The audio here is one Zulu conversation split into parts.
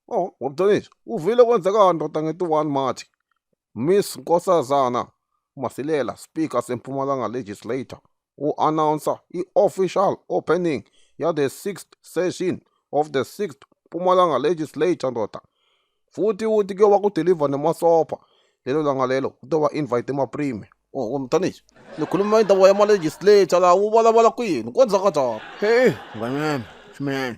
Oh, wabudonisa. Uvile kwenzeka ndoda nge-21 March. Miss Nkosazana Masilela, Speaker seMpumalanga Legislator, u-announcer i-official opening ya the 6th session of the 6th Mpumalanga Legislature ndoda. Futhi uthi ke wakudeliver nemasopha lelo langa lelo kutoba invite emaprime. Oh, wamdonisa. Nikhuluma indaba yama-legislator la ubalabala kwini kwenza kanjani? Hey, ngane yami, shumeni.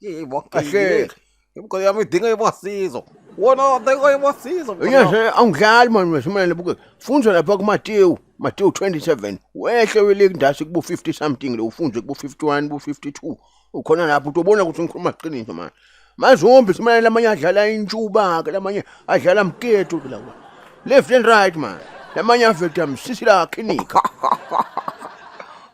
Yey bak Aşık. gel. Bu kadar mı dinle basıyız o. Ona dinle basıyız o. Nje angidlali manje wesimele buke. Funza lapha ku Matthew, Matthew 27. Wehle weleki ndase kubo 50 something lo ufunze kubo 51, kubo 52. Ukhona lapho utobona ukuthi ngikhuluma iqiniso manje. Mazombi simele lamanye adlala intshuba ke lamanye adlala mketo ke lawa. Left and right man. Lamanye aveta msisi la clinic.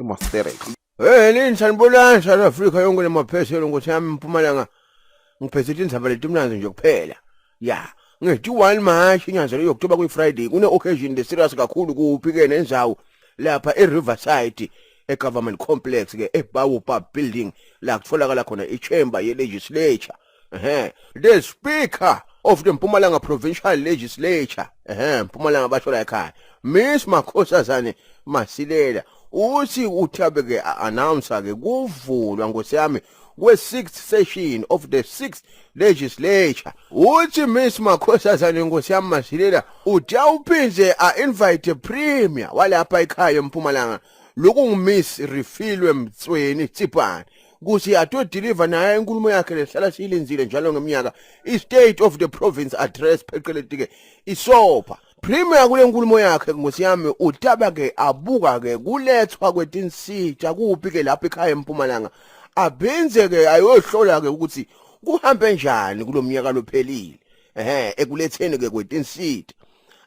iMosterek. Hey lini sanibonani South Africa yonke lemapheselo nkosi yami mpumalanga ngiphethe indaba letimnanzi nje kuphela ya nge-21 March inyanga le October kuyi Friday kune occasion the serious kakhulu kuphi ke nenzawo lapha eRiverside eGovernment Complex ke eBawo Pub Building la kutholakala khona iChamber yeLegislature ehe the speaker of the Mpumalanga Provincial Legislature ehe Mpumalanga basho la ekhaya Miss Makhosazane Masilela uthi uthabe ke announce ke kuvulwa ngosiyami kwe-6th session of the 6th legislature uthi miss makhosazane nkosi yami masilela uthi awuphinde a-invite premier walapha ekhaya empumalanga loku ngumiss refilwe mtsweni tsipane kuthi atodeliver naye inkulumo yakhe lehlala siyilenzile njalo ngeminyaka i-state of the province address pheqeletike isopa Premier kule nkulumo yakhe ngosi yami utaba ke abuka ke kulethwa kwetinsita kuphi ke lapha ekhaya empumalanga abhenze ke ayohlola ke ukuthi kuhambe njani kulomnyaka lophelile ehe ekuletheni ke kwetinsita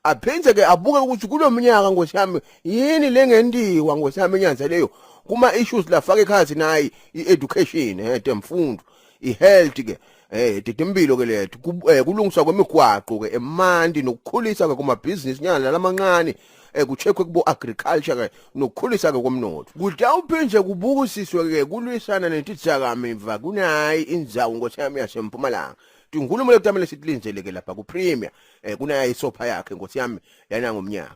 aphinde ke abuke ukuthi kulomnyaka nkosi yami yini lengendiwa nkosi yami enyanza leyo kuma issues la fake khathi nayi i-education eh temfundo i-health ke eh didimphilo ke lethu eh, kulungiswa kwemigwaqo ke emandi nokukhulisa ke kumabhizinisi nyana nalamancane eh kucheckwe kubo agriculture ke nokukhulisa ke komnotho kudawuphinde kubukisiswe ke kulwisana nentithizakamimva kunayi indzawo nkosi yami yasempumalanga tinkhulumo lekutamele sitilinzeleke lapha ku-premier eh kunayo isopha yakhe nkosi yami yana ngomnyaka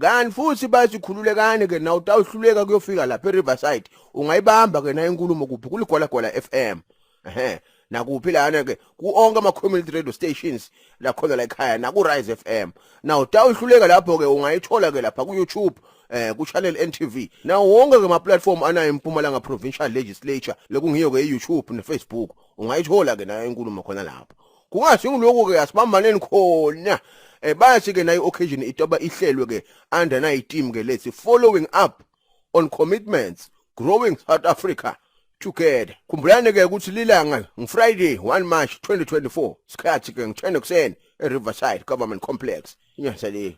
kanti futhi basikhululekane ke na utawuhluleka kuyofika lapha eRiverside ungayibamba ke na inkulumo kuphi kuligwala gwala FM ehe nakuphi lana ke kuonke ama community radio stations la khona la ekhaya na ku Rise FM na utawuhluleka lapho ke ungayithola ke lapha ku YouTube eh ku channel NTV na wonke ke ma platform anayo impumalanga provincial legislature lekungiyo ke e YouTube ne Facebook ungayithola ke na inkulumo khona lapho kungasingiloku-ke asibambaneni khona um bayasike nayo occasion itoba ihlelwe-ke under nayi team-ke lethi following up on commitments growing south africa together khumbulani ke ukuthi lilanga ngifriday 1 march 2024 sikhathi ke ngi-10 ekuseni e-riverside government complex inyasa le